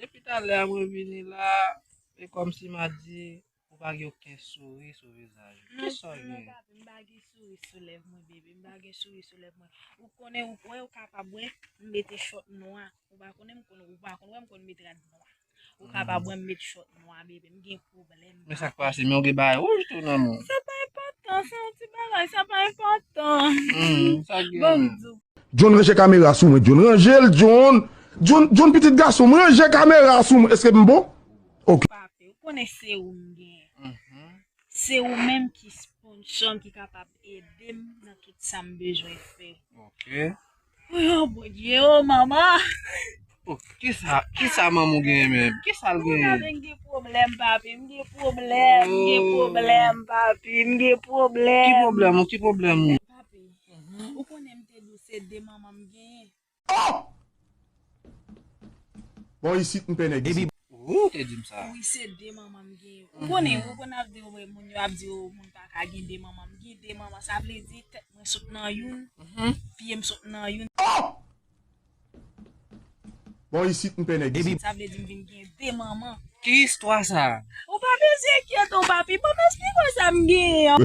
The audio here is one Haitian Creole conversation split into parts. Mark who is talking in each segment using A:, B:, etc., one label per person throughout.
A: Depi talè a mwen vini la, e kòm si ma di, ou pa gen oken souri sou vizaj ou. Ki sa ou gen? M pa gen souri
B: sou lèv mwen bebe, m pa gen souri sou lèv mwen. Ou konnen ou kwè ou kapab wè m mete chòt nwa, ou pa konnen m konn, ou pa konn wè m konn met rad nwa. Ou ka pa bwèm met shot nwa bebe m gen pwoblèm. Men sak pase men ou gen
A: bagay wouj tou nan men w. Sa pa enpòtan
B: se yon ti bagay sa pa enpòtan.
A: Bon m di w.
B: John ranje kamera
C: sou mwen John ranje l John John John pitit gason m ranje kamera sou mwen eske m bon ok. Papi ou konnen
B: se ou m gen se ou menm ki sponsor m ki kapab ede m nan tout sa m bezwen fè ok.
A: Woyy
B: bondye oh manman. Oh
A: kisa kisa manmou genyen menm kisal genyen. Mwen gen pwoblèm
B: papi m gen pwoblèm m gen pwoblèm papi m gen pwoblèm. Ki pwoblèm ou ki pwoblèm ou.
A: Papi
B: ou konnen m te di w se 2 manman m genyen. Oh!
C: Bon isit m pè nèg isit. Ooh te dim sa.
A: Wi se 2 manman m
B: gen yo. Ou konnen ou konn ap di yo moun yo ap di yo moun pa ka gen 2 manman m gen 2 manman sa vle di tèt mwen sot nan youn pye m sot nan youn. Oh!
C: Bon isit m pè nèg isit. Sa vle di m vin gen 2
B: manman. Ki istwa sa?
A: Ou pa bezwen
B: enkyete w papi banm esplike w sa m genyen an.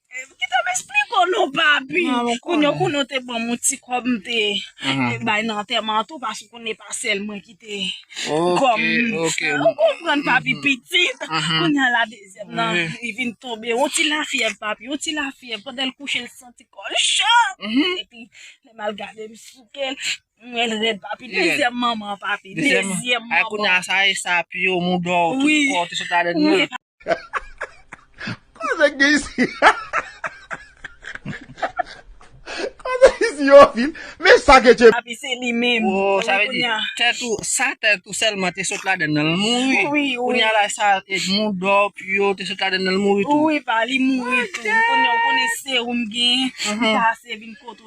B: Kite m esplike w non papi. Kounye ou konnen ou te ban mwen ti kòb m te bay nan antèman an tou paske konnen e pa sèl mwen ki te kòm. Ou konprann
A: papi
B: pitit. Kounye a la dezyèm nan li vin tonbe yon ti lafyèv papi yon ti lafyèv pandan l kouche l santi kò l cho epi lè m al gade m souke l m wè l rèd papi dezyèm manman papi dezyèm manman. Kounye a sa
A: e sa
B: piye
A: w moudon w tout kò w te sot ladan l nan.
B: Koze
C: k gen isi Koze k isi yo fil Men sa ke tchep. Api se li menm.
B: Woo sa vle di
A: tèt ou sa
B: tèt
A: ou sèlman te sot ladann nan l mouri wi kounye a la sa Edmond Dor Pio te sot ladann nan l mouri tou wi pa li mouri
B: tou kounye a ou konnen serum gen li pase vin kote w.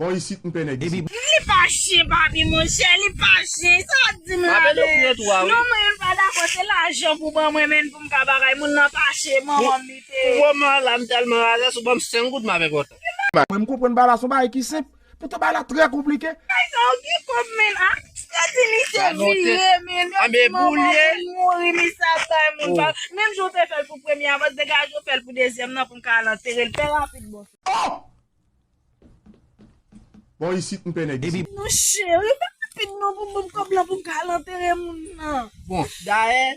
C: Bon isit m pè nèg isit. Li pa chien
B: papi monchè li pa chien sa wap dim la men non mwen menm pa
A: dakò se
B: lajan pou ban mwen menn poum ka bagay moun nan pa chien manmanm li te. Pou moman an la m
A: tèlman razè si w banm 5 goud m ap enpòtan. Mwen m konprann ba la
C: son bagay ki senp Poutan bagay la trè konplike. Kay sa yo gen
B: kob menn a. Sa di misye vire
A: menn. Yo di
B: manman moun
A: mouri misye ap
B: bay moun pa. Menm jan w te
A: fèl
B: pou premye a baz degaje w fèl pou dezyèm nan pou n ka al antere l fè rapid bon. Oh!
C: Bon isit m pè nèg isit. Non cheri fè
B: rapid non pou m banm kob lan pou m ka al antere moun nan. Bon dayè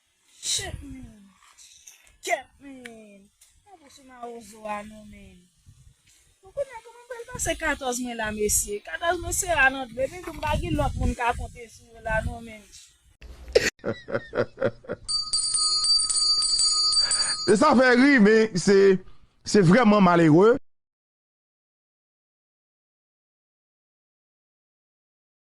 B: Shit man! Kèt man! Pa pran sou mawozo a non man! Bon kounya kòman m pral pase 14 mwen la mesye? 14 mwen se a nan dlo epi m di m pa gen lòt moun m ka konte sou yo la non man!
C: Heheheheheh Sa fè ri men se vrèman malere.